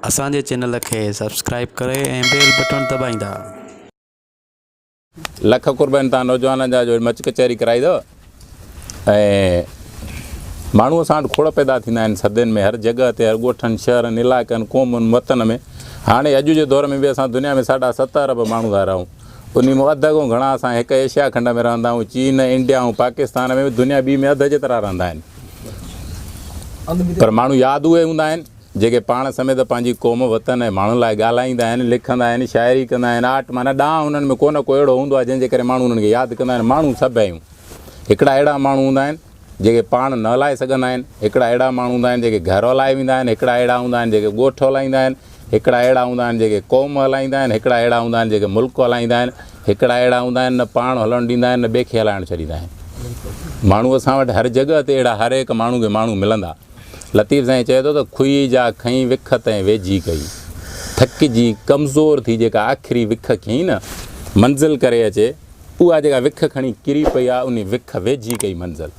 اسان جي چينل کي سبسڪرائيب ڪري ۽ بيل بٽڻ دٻائيندا. لک قربان تان نوجوانن جا جو مچ ڪچهري ڪرائي اٿو ۽ ماڻهو اسان وٽ کوڙ پيدا ٿيندا آهن صدين ۾ هر جڳهه تي هر ڳوٺن شهرن علائقن قومن وطن ۾ هاڻي اڄ جي دور ۾ به اسان دنيا ۾ ساڍا ست ارب ماڻهو ٿا رهون انهي مان اڌ کان گهڻا اسان هڪ ايشيا کنڊ ۾ رهندا آهيون. چين، انڊيا ۽ پاڪستان ۾ به دنيا ٻي ۾ اڌ جيترا رهندا آهن. پر ماڻهو ياد اهي هوندا آهن، جيڪي پاڻ سميت پنهنجي قوم، وطن ۽ ماڻهن لاء ڳالهائيندا آهن، لکندا آهن، شاعري ڪندا آهن. آرٽ معنيٰ ڏانء هنن ۾ ڪو نه ڪو اهڙو هوندو آهي، جنهن جي ڪري ماڻهو انهن کي ياد ڪندا آهن. ماڻهو سڀ آهيون. هڪڙا اهڙا ماڻهو هوندا آهن. جيڪي پاڻ نه هلائي سگهندا آهن، هڪڙا اهڙا ماڻهو هوندا آهن، جيڪي گهر هلائي ويندا آهن، هڪڙا اهڙا هوندا آهن، جيڪي ڳوٺ هلائيندا آهن، هڪڙا اهڙا هوندا آهن، جيڪي قوم هلائيندا آهن، هڪڙا اهڙا هوندا آهن، جيڪي ملڪ هلائيندا آهن، هڪڙا اهڙا هوندا آهن، نه پاڻ هلڻ ڏيندا آهن، نه ٻئي کي هلائڻ ڇڏيندا آهن. ماڻهو اسان وٽ هر جڳهه تي اهڙا هر هڪ ماڻهو کي ماڻهو ملندا. لطيف سائين چئي ٿو ته کهي جا کنئي وک تنهن ويجهي ڪئي. ٿڪجي ڪمزور ٿي جيڪا آخري وک کنئي نه، منزل ڪري اچي. اها جيڪا وک کڻي ڪري پئي آ، انهي وک ويجهي ڪئي منزل.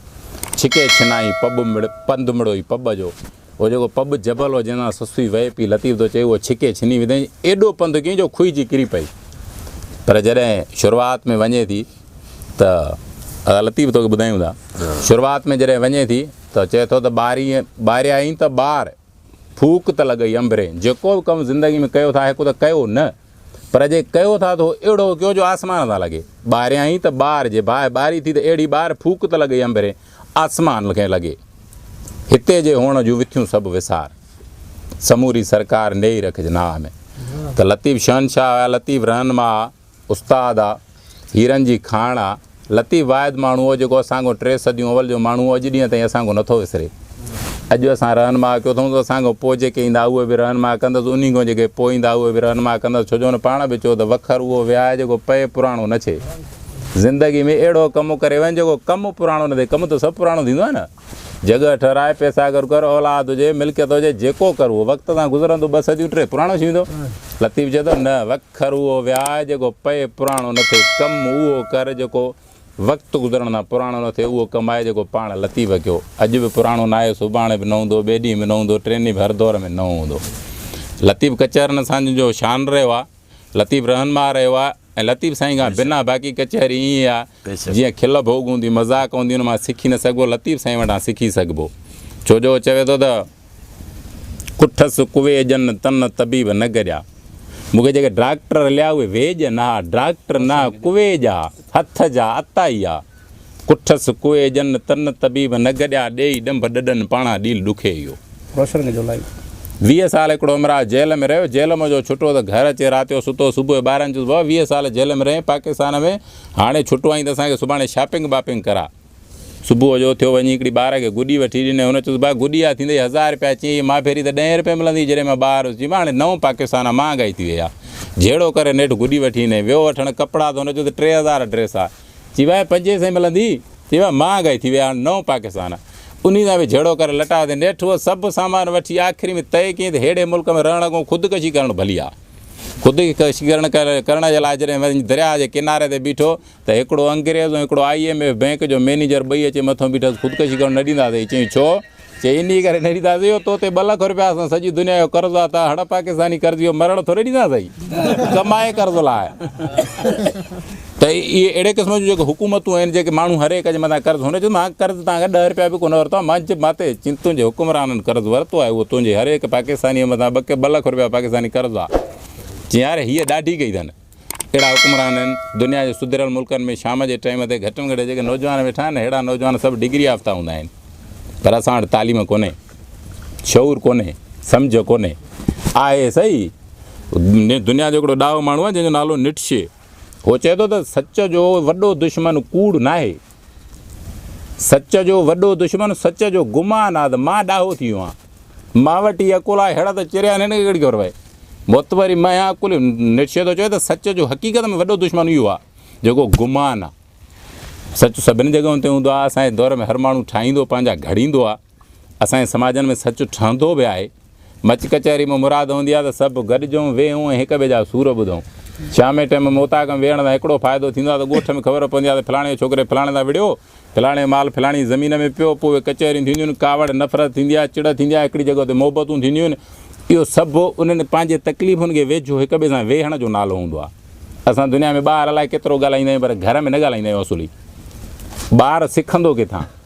ڇڪي ڇنائي پٻ مڙ، پنڌ مڙو ئي پٻ جو. اهو جيڪو پٻ جبل هو، جنهن تان سسوي وهي پئي، لطيف ٿو چئي، اهو ڇڪي ڇني وڌائين، ايڏو پنڌ ڪيائين جو کهجي ڪري پئي. پر جڏهن شروعات ۾ وڃي ٿي ته ادا لطيف توکي ٻڌايون ٿا، شروعات ۾ جڏهن وڃي ٿي ته چئي ٿو ته ٻاري ٻاريائين ته ٻار، ڦوڪ ته لڳئي انبرين، جيڪو به ڪم زندگي ۾ ڪيو ٿا، هڪ ته ڪيو نه. پر جي ڪيو ٿا ته اهڙو ڪيو جو آسمان سان لڳي. ٻاريان ئي ته ٻار جي باهه ٻاري ٿي ته اهڙي ٻار ڦوڪ ته لڳئي انڀري آسمان کي لڳي. هتي جي هئڻ جون وٿيون سڀ وسار. سموري سرڪار نيئي رکج ناهه ۾. ته لطيف شهنشاهه آ، لطيف رهنما آ، استاد آ. هيرن جي کاڻ آ. لطيف واحد ماڻهو هو جيڪو اسان کان ٽي صديون اول جو ماڻهو هو اڄ ڏينهن تائين اسان کان نٿو وسري. اڄ اسان رهنما ڪيو اٿئون ته اسان کان پوء جيڪي ايندا اهي به رهنما ڪندس انهي کان جيڪي پوء ايندا اهي به رهنما ڪندس ڇو جو هن پاڻ به چيو ته وکر اهو وهائي جيڪو پئي پراڻو نه ڇي زندگي ۾ اهڙو ڪم ڪري وڃ جيڪو ڪم پراڻو نه ٿئي ڪم ته سڀ پراڻو ٿيندو آهي نه. جڳهه ٺهراء، پئسا گڏ ڪر، اولاد هجي، ملڪيت هجي، جيڪو ڪر اهو وقت سان گذرندو ٻه صديون ٽي پراڻو ٿي ويندو. لطيف چئي ٿو، نه وکر اهو وياء جيڪو پئي پراڻو نه ٿئي، ڪم اهو ڪر جيڪو وقت گذرڻ سان پراڻو نه ٿئي، اهو ڪم آهي جيڪو پاڻ لطيف ڪيو. اڄ به پراڻو ناهي، سڀاڻي به نه هوندو، ٻئي ڏينهن به نه هوندو، ٽئين ڏينهن به هر دور ۾ نئون هوندو. لطيف ڪچهرن اسان جو شان رهيو آهي، لطيف رهنما رهيو آهي ۽ لطيف سائين کان بنا باقي ڪچهري ائين ئي آهي. جيئن کل ڀوڳ هوندي، مذاق هوندي ان مان سکي نه سگهبو، لطيف سائين وٽان سکي سگهبو ڇو جو هو چوي ٿو ته، ڪٺس ڪوي ڄن تن طبيب نه گڏيا، مون کي جيڪي ڊاڪٽر رليا اهي ويڄ نه ها، ڊاڪٽر نه ڪوي جا، هٿ جا، عطائي آ. ڪٺس ڪوي ڄن تن طبيب نه گڏيا، ڏيئي ڏنڀ ڏڏن پاڻان ڏيل ڏکي اهو. ويهه سال هڪڙو همراهه جيل ۾ رهيو، جيل مان جو ڇٽو ته گهر اچي رات جو ستو، صبح جو ٻاهران چيس بابا ويهه سال جيل ۾ رهين پاڪستان ۾ هاڻي ڇٽو آهين ته اسان کي سڀاڻي شاپنگ باپنگ ڪراء. صبح جو ٿيو وڃي هڪڙي ٻار کي گڏي وٺي ڏني. هن چيس ڀاء گڏي آ ٿيندئي هزار رپيا چيائين هي مان پهرين ته ڏهين رپئي ملندي جڏهن مان ٻار هيس چيم هاڻي نو پاڪستان آ مهانگائي ٿي وئي آ. جهيڙو ڪري نيٺ گڏي وٺي ڏني. ويو وٺڻ ڪپڙا ته هن چيو ته ٽي هزار ڊريس آ. چي ڀاء پنجين سئين ملندي؟ چي ڀاء مهانگائي ٿي وئي آ هاڻي نو پاڪستان آ. انهي سان به جهيڙو ڪري لٽايو ته نيٺ هوء سڀ سامان وٺي آخري ۾ طئي ڪيائين ته ههڙي ملڪ ۾ رهڻ کان خودڪشي ڪرڻ ڀلي آ. خودڪشيڪرڻ ڪرڻ جي لاء جڏهن وڃي درياهه جي ڪناري تي بيٺو ته هڪڙو انگريز ۽ هڪڙو آئي ايم ايف بئنڪ جو مئنيجر ٻئي اچي مٿو بيٺس خودڪشي ڪرڻ نه ڏينداسين چيائين ڇو؟ چيائين انهيء ڪري نه ڏينداسين جو تو تي ٻه لک روپيا اٿن سڄي دنيا جو قرض آ تان هڙ پاڪستاني قرضي جو مرڻ ٿوري ڏينداسين ڪمائي قرض لاء. ته اهي اهڙي قسم جون جيڪي حڪومتون آهن، جيڪي ماڻهو هر هڪ جي مٿان قرض، هن چيو ته مان قرض توهان کان ڏهه رپيا به ڪونه ورتو آهي، مان جي مان تي جن تنهنجي حڪمرانن قرض ورتو آهي اهو تنهنجي هر هڪ پاڪستانيء جي مٿان ٻه ٻه لک رپيا پاڪستاني قرض آهي. چيائين يار هيء ڏاڍي ڪئي اٿن. اهڙا حڪمران آهن، دنيا جي سڌريل ملڪن ۾ شام جي ٽائيم تي گهٽ ۾ گهٽ جيڪي نوجوان ويٺا آهن اهڙا نوجوان سڀ ڊگري يافته هوندا آهن پر اسان وٽ تعليم ڪونهي، شعور ڪونهي، سمجهه ڪونهي. آهي سهي دنيا جو هڪڙو ڏاهو ماڻهو آهي جنهن جو نالو نٽشي. هو چئي ٿو ته سچ جو وڏو دشمن ڪوڙ ناهي. سچ جو وڏو دشمن سچ جو گمان آهي ته مان ڏاهو ٿي ويو آهيان. مان وٽ هي عقل آهي، هڙ ته چريا آهن هن کي ڪهڙي خبر پوي. بت وري مان آهيان عقل جو. نٽشي ٿو چوي ته سچ جو حقيقت ۾ وڏو دشمن اهو آهي جيڪو گمان آهي. سچ سڀني جڳهين تي هوندو آهي. اسان جي دور ۾ هر ماڻهو ٺاهيندو، پنهنجا گهڙيندو آهي. اسان جي سماجن ۾ سچ ٺهندو به آهي. مچ ڪچهري مان مراد هوندي آهي ته سڀ گڏجون، ويهون ۽ هڪ ٻئي جا سور ٻڌون. شام جي ٽيم موتاڪ ۾ ويهڻ سان هڪڙو فائدو ٿيندو آهي ته ڳوٺ ۾ خبر پوندي آهي ته فلاڻي جو ڇوڪري فلاڻي سان وڙهيو، فلاڻي جو مال فلاڻي جي زمين ۾ پيو، پوء اهي ڪچهريون ٿينديون آهن، ڪاوڙ، نفرت ٿيندي آهي، چڙ ٿيندي آهي، هڪڙي جڳهه تي محبتون ٿينديون آهن. اهو سڀ انهن پنهنجي تڪليفن کي ويجهو هڪ ٻئي سان ويهڻ جو نالو هوندو آهي. اسان دنيا ۾ ٻاهر الائي ڪيترو ڳالهائيندا آهيون پر گهر ۾ نه ڳالهائيندا آهيون اصولي ٻار سکندو ڪٿان؟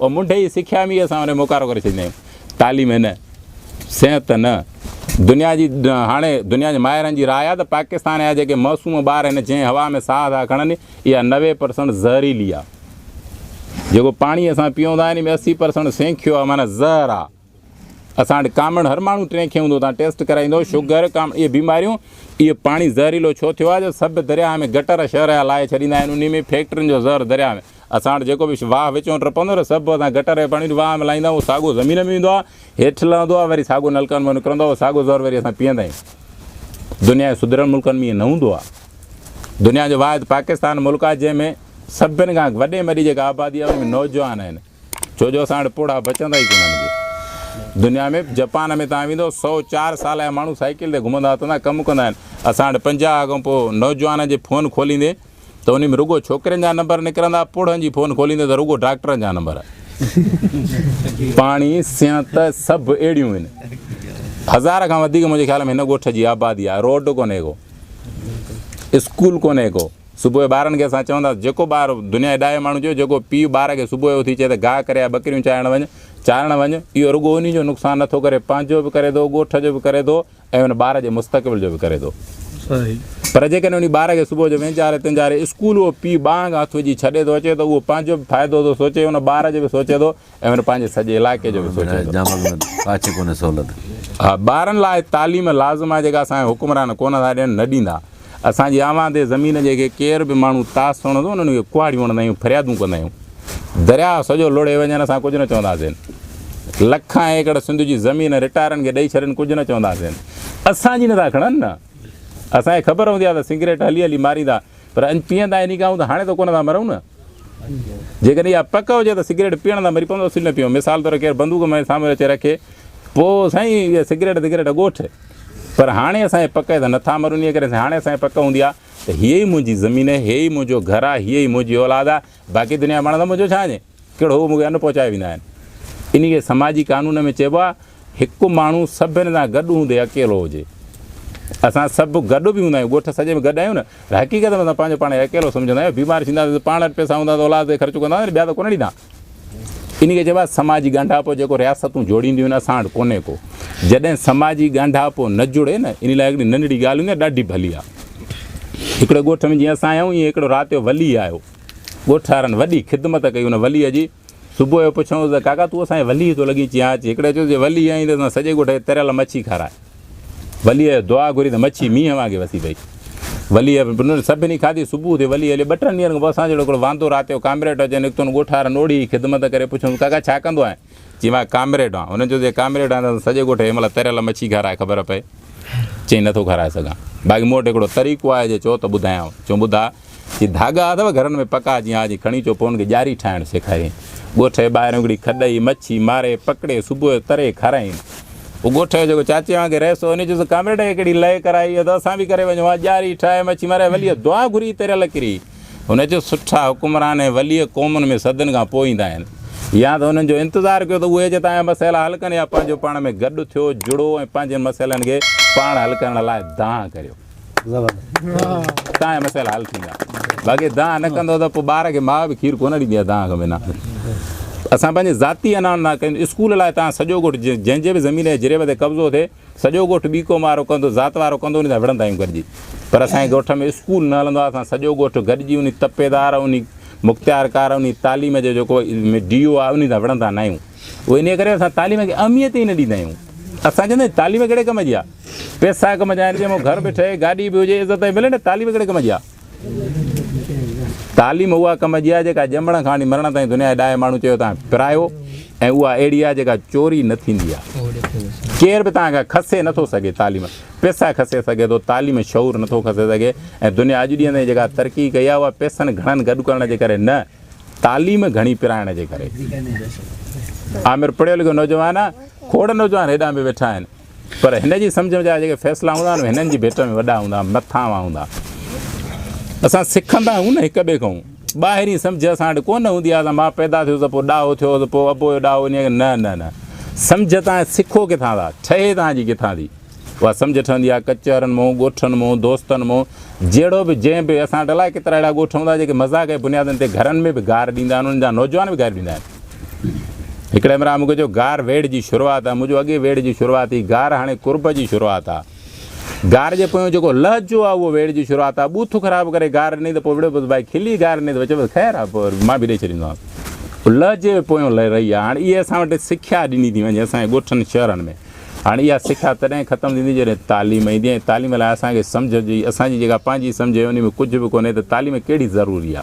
او منڍي جي سکيا ۾ ئي اسان ان کي موڪارو ڪري ڇڏيندا آهيون. تعليم هي نه، صحت ته نه. دنيا جي هاڻي دنيا جي ماهرن جي راء آهي ته پاڪستان جا جيڪي معصوم ٻار هن جنهن هوا ۾ ساهه ٿا کڻن اها نوي پرسنٽ زهريلي آهي. جيڪو پاڻي اسان پيئون ٿا ان ۾ اسي پرسنٽ سينکيو آهي معنيٰ زهر آهي. اسان وٽ ڪامڻ هر ماڻهو ٽين کي هوندو تان ٽيسٽ ڪرائيندو شگر ڪامڻ اهي بيماريون اهو پاڻي زهريلو ڇو ٿيو آهي جو سڀ درياهه ۾ گٽر شهر جا لاهي ڇڏيندا آهن انهي ۾ فيڪٽرين جو زهر درياهه ۾ اسان وٽ جيڪو به واهه وچ وٽ پوندو نه سڀ اسان گٽر جي پاڻي واهه ۾ لاهيندا اهو ساڳو زمين ۾ ويندو آهي هيٺ لهندو آهي وري ساڳو نلڪن مان نڪرندو آهي اهو ساڳو زهر وري اسان پيئندا آهيون دنيا جي سڌريل ملڪن ۾ ائين نه هوندو آهي دنيا جو واحد پاڪستان ملڪ آهي جنهن ۾ سڀن کان وڏي ۾ وڏي جيڪا آبادي آهي ان ۾ نوجوان آهن ڇو جو اسان وٽ پوڙها بچندا ئي ڪونهن جي دنيا ۾ جپان ۾ توهان ويندو سؤ چار سال جا ماڻهو سائيڪل تي گهمندا اٿندا ڪم ڪندا آهن اسان وٽ پنجاهه کان پوء نوجوانن جي فون کوليندي ته ان ۾ رڳو ڇوڪرين جا نمبر نڪرندا پوڙهن جي فون کوليندي ته رڳو ڊاڪٽرن جا نمبر پاڻي سينت سڀ اهڙيون آهن هزار کان وڌيڪ منهنجي خيال ۾ هن ڳوٺ جي آبادي آهي روڊ ڪونهي ڪو اسڪول ڪونهي ڪو صبح جو ٻارن کي اسان چونداسين جيڪو ٻار دنيا جي ڏاهي ماڻهو چيو جيڪو پيء ٻار کي صبح جو اٿي چئي ته گاهه ڪري آء ٻڪريون چارڻ وڃ چارڻ وڃ اهو رڳو انهي جو نقصان نه ٿو ڪري پنهنجو به ڪري ٿو ڳوٺ جو به ڪري ٿو ۽ ان ٻار جي مستقبل جو به ڪري ٿو پر جيڪڏهن انهي ٻار کي صبح جو وينجاري تنجاري اسڪول اهو پيء ٻانهن کان هٿ وجهي ڇڏي ٿو اچي ته اهو پنهنجو به فائدو ٿو سوچي ان ٻار جو به سوچي ٿو ايون پنهنجي سڄي علائقي جو به سوچي ٿو. جامل ۾ ڪاڇي ڪونهي سهولت. ها ٻارن لاء تعليم لازم آهي جيڪا اسان جا حڪمران ڪونه ٿا ڏين نه ڏيندا اسان جي آوانده زمين جي کي ڪير به ماڻهو تاس سڻندو انهن کي ڪهاڙيون هڻندا آهيون فريادون ڪندا آهيون درياء سڄو لڙهي وڃن اسان ڪجهه نه چونداسين لکان ايڪڙ سنڌ جي زمين رٽائرن کي ڏئي ڇڏين ڪجهه نه چونداسين اسان جي نه ٿا کڻن نه اسان کي خبر هوندي آهي ته سگريٽ هلي هلي ماريندا پر اڃ پيئن ٿا يعني ڪاهون ته هاڻي ته ڪونه ٿا مرون نه. جيڪڏهن اها پڪ هجي ته سگريٽ پيئڻ سان مري پوندو اصل نه پيئون. مثال طور ڪير بندوق مئي سامهون اچي رکي پوء سائين اهي سگريٽ دگريٽ ڳوٺ. پر هاڻي اسان جي پڪ آهي ته نه ٿا مرون انهيء ڪري هاڻي اسان جي پڪ هوندي ها ته هيء ئي منهنجي زمين آهي، هيء ئي منهنجو گهر آهي، هيء ئي منهنجي اولاد آهي، باقي دنيا وڻ ته منهنجو ڇانئجي ڪهڙو هو مون کي ان پهچائي ويندا آهن. انهي کي سماجي قانون ۾ چئبو آهي هڪ ماڻهو سڀن سان گڏ هوندي اڪيلو هجي. اسان سڀ گڏ به هوندا آهيون ڳوٺ سڄي ۾ گڏ آهيون نه پر حقيقت ۾ اسان پنهنجو پاڻ کي اڪيلو سمجهندا آهيون بيمار ٿينداسين ته پاڻ وٽ پئسا هوندا ته اولاد تي خرچ ڪنداسين ٻيا ته ڪونه ڏيندا. انهي کي چئبو آهي سماجي ڳانڍاپو جيڪو رياستون جوڙينديون آهن اسان وٽ ڪونهي ڪو. جڏهن سماجي ڳانڍاپو نه جڙي نه انهي لاء هڪڙي ننڍڙي ڳالهه هوندي آهي ڏاڍي ڀلي آهي. هڪڙي ڳوٺ ۾ جيئن اسان آيون ايئن هڪڙو رات جو ولي آيو. ڳوٺ وارن وڏي خدمت ڪئي ان وليء جي. صبح جو پڇيوس ته ڪاڪا تون اسان جي وليء ٿو لڳين چيان اچ. هڪڙي چيس جي ولي آئين ته اسان سڄي ڳوٺ کي تريل مڇي کارائي. وليء جو دعا گهري ته مڇي مينهن وانگي وسي پئي. وليء انهن سڀني کاڌي. صبح ٿي ولي هليو. ٻه ٽن ڏينهن کان پوء اسان جهڙو هڪڙو واندو رات جو ڪامريٽ اچي نڪتو ان ڳوٺ وارن اوڙي ئي خدمت ڪري پڇيوس ڪاڪا ڇا ڪندو آهين؟ چيم آء ڪامريڊ آن. هن چيس جي ڪامريڊ آهين ته سڄي ڳوٺ کي هن مهل تريل مڇي کارائي خبر پئي. چيم نه ٿو کارائي سگهان. باقي مون وٽ هڪڙو طريقو آهي جي چؤ ته ٻڌايانء. چيم ٻڌاء. چي ڌاڳا اٿو گهرن ۾ پڪا جي ها جي کڻي اچو پوء ان کي ڄاري ٺاهڻ سيکارين. ڳوٺ جي ٻاهريون هڪڙي کڏئي مڇي ماري پڪڙي صبح جو تري کارائين. پوء ڳوٺ جو جيڪو چاچي وانگي رهيس هو ان چيس ڪامريڊ هيء ڪهڙي لئي ڪرائي اٿو اسان به ڪري وڃون ها ڄاري ٺاهي مڇي ماري وليء دعا گهري تريل ڪري. هن چيو، سٺا حڪمران ۽ ولي قومن ۾ صدين کان پوء ايندا آهن. يا ته انهن جو انتظار ڪيو ته اهي اچي توهان جا مسئلا حل ڪن يا پنهنجو پاڻ ۾ گڏ ٿيو، جڙو ۽ پنهنجن مسئلن کي پاڻ حل ڪرڻ لاء دانهن ڪريو. توهان جا مسئلا حل ٿيندا. باقي دانهن نه ڪندو ته پوء ٻار کي ماء به کير ڪونه ڏيندي آهي دانهن کان بنا. اسان پنهنجي ذاتي اناڻ نه ڪيون. اسڪول لاء توهان سڄو ڳوٺ جنهن جي به زمين يا جريب تي قبضو ٿئي، سڄو ڳوٺ ٻيڪوم وارو ڪندو ذات وارو ڪندو انهي سان وڙهندا آهيون گڏجي پر اسان جي ڳوٺ ۾ اسڪول نه هلندو آهي اسان سڄو ڳوٺ گڏجي انهي تپيدار انهي مختيارڪار انهي تعليم جو جيڪو ڊي او آهي انهي سان وڙهندا نه آهيون اهو انهي ڪري اسان تعليم کي اهميت ئي نه ڏيندا آهيون اسان چوندا آهيون تعليم ڪهڙي ڪم جي آهي پيسا ڪم جا آهن ڄمو گهر به ٺهي گاڏي به هجي عزت به ملي نه تعليم ڪهڙي ڪم جي آهي تعليم اها ڪم جي آهي جيڪا ڄمڻ کان وٺي مرڻ تائين دنيا جي ڏاهي ماڻهو چيو تان پرايو ۽ اها اهڙي آهي جيڪا چوري نه ٿيندي آهي ڪير به تان کان کسي نٿو سگهي تعليم پيسا کسي سگهي ٿو تعليم شعور نٿو کسي سگهي ۽ دنيا اڄ ڏينهن تائين جيڪا ترقي ڪئي آهي اها پيسن گهڻن گڏ ڪرڻ جي ڪري نه تعليم گهڻي پرائڻ جي ڪري عامر پڙهيو لکيو نوجوان کوڙ نوجوان هيڏانهن به ويٺا آهن پر هن جي سمجهه جا جيڪي فيصلا هوندا آهن، اهي هنن جي ڀيٽ ۾ وڏا هوندا آهن، مٿانهوان هوندا آهن. اسان سکندا آهيون نه هڪ ٻئي کان. ٻاهرين سمجهه اسان وٽ ڪونه هوندي آهي، اسان مان پيدا ٿيو ته پوء ڏاهو ٿيو ته پوء ابو جو ڏاهو انهيء کي، نه نه نه. سمجهه توهان سکو ڪٿان ٿا، ٺهي توهان جي ڪٿان ٿي. اها سمجهه ٺهندي آهي ڪچهرن مون، ڳوٺن مون، دوستن مون، جهڙو به، جنهن به. اسان وٽ الائي ڪيترا اهڙا ڳوٺ هوندا آهن، جيڪي مذاق جي بنيادن تي گهرن ۾ به گار ڏيندا آهن، انهن جا نوجوان به گاريون ڏيندا آهن. هڪڙي مرا مونکي چيو گار ويڙهه جي شروعات آ مون چيو اڳي ويڙهه جي شروعات هئي گار هاڻي قرب جي شروعات آ گار جي پويون جيڪو لهجو آ اهو ويڙهه جي شروعات آ ٻوٿ خراب ڪري گار ڏني ته پوء وڙهيو بس ڀائي کلي گار ڏني ته وچ بس خير آ پوء مان به ڏئي ڇڏيندومانس لهجي پويون لهه رهي آ هاڻي اهي اسان وٽ سکيا ڏني ٿي وڃي اسان جي ڳوٺن شهرن ۾ هاڻي اها سکيا تڏهن ختم ٿيندي جڏهن تعليم ايندي ۽ تعليم لاء اسان کي سمجهه جي اسان جي جيڪا پنهنجي سمجهه آهي ان ۾ ڪجهه به ڪونهي ته تعليم ڪهڙي ضروري آ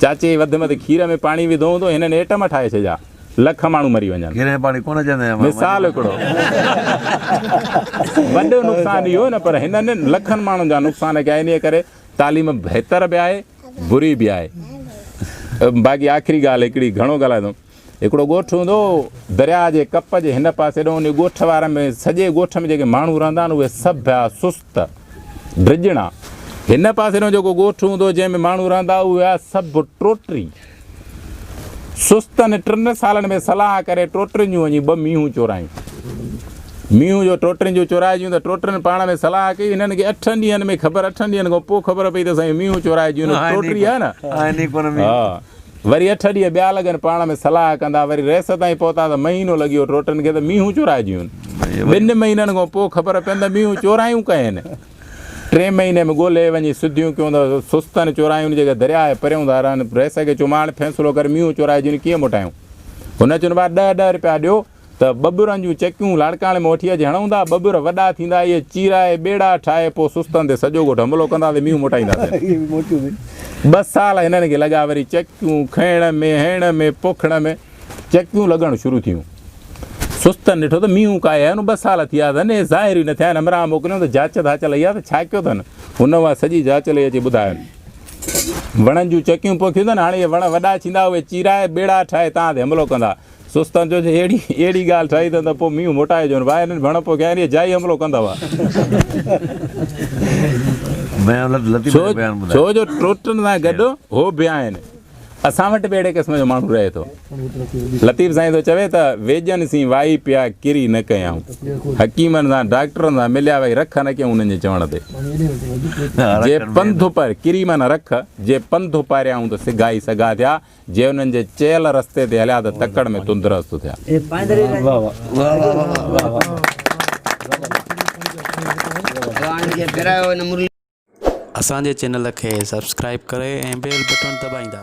چاچي وڌ مڌ کير ۾ پاڻي وڌو هوندو هنن ايٽم ٺاهي ڇڏيا لک ماڻهو مري وڃن. کير ۾ پاڻي ڪونه چئندا آهن. مثال هڪڙو وڏو نقصان اهو نه پر هنن لکن ماڻهن جا نقصان ڪيا انهي ڪري تعليم بهتر به آهي بري به آهي باقي آخري ڳالهه هڪڙي گهڻو ڳالهايندم. هڪڙو ڳوٺ هوندو هو درياء جي ڪپ جي هن پاسي ڏانهن انهي ڳوٺ وارن ۾ سڄي ڳوٺ ۾ جيڪي ماڻهو رهندا آهن اهي سڀ ڀيا سست ڊڄڻا هن پاسي ڏانهن جيڪو ڳوٺ هوندو جنهن ۾ ماڻهو رهندا اهي هيا سڀ ٽوٽري سستن ٽن سالن ۾ صلاح ڪري ٽوٽرين جون وڃي ٻه مينهون چورايون مينهون جو ٽوٽرين جون چورائجيون ته ٽوٽرين پاڻ ۾ صلاح ڪئي هنن کي اٺن ڏينهن ۾ خبر اٺن ڏينهن کان پوء خبر پئي ته سائين مينهون چورائجيون ٽوٽري آهي نه وري اٺ ڏينهن ٻيا لڳن پاڻ ۾ صلاح ڪندا وري ريس تائين پهتا ته مهينو لڳي ويو ٽوٽن کي ته مينهون چورائجيون ٻن مهينن کان پوء خبر پين ته مينهون چورايون ڪين ٽئين مهيني ۾ ڳولهي وڃي سڌيون ڪيون ته سستن چورايون جيڪي درياء جي پريون ڌارن ريس کي چوماڻ فيصلو ڪر مينهون چورائجيون ڪيئن موٽايون هن چيون ڀاء ڏهه ڏهه روپيا ڏيو ته ٻٻرن جون چڪيون لاڙڪاڻي ۾ وٺي اچي هڻون ٿا. ٻٻر وڏا ٿيندا اهي چيرائي ٻيڙا ٺاهي پوء سستن تي سڄو ڳوٺ حملو ڪنداسين مينهون موٽائينداسين. ٻه سال هنن کي لڳا وري چڪيون کنئڻ ۾ هڻڻ ۾ پوکڻ ۾ چڪيون لڳڻ شروع ٿيون. سستن ڏٺو ته مينهون ڪاهي آيو نه ٻه سال ٿيا اٿن اهي ظاهر ئي نه ٿيا آهن همراهه موڪليون ته جاچ ڌاچ لهي آ ته ڇا ڪيو اٿن هن اها سڄي جاچ لهي اچي ٻڌاين. وڻن جون چڪيون پوکيون اٿن هاڻي اهي وڻ وڏا ڇيندا اهي چيرائي ٻيڙا ٺاهي توهان تي حملو ڪندا سوستان چيو جي اهڙي اهڙي ڳالهه ٺاهي اٿن ته پوء مينهن موٽائي ڏيون ڀاء هنن ڀڻ پوء کين اهي جائي حملو ڪندا هئا. ڇو جو ٽوٽن سان گڏ هو به آهن. اسان وٽ به اهڙي قسم جو ماڻهو رهي ٿو. لطيف سائين ٿو چوي ته ويڄن سين وائي پيا ڪري نه ڪيائون. حڪيمن سان ڊاڪٽرن سان مليا وئي رک نه ڪيائون انهن جي چوڻ تي. جي پنڌ اپر ڪري معنيٰ رک جي پنڌ اپاريائون ته سگهائي سگها ٿيا. جي انهن جي چيل رستي تي هليا ته تڪڙ ۾ تندرست ٿيا. اسان جي چينل کي سبسڪرائيب ڪري ۽ بيل بٽڻ دٻائيندا.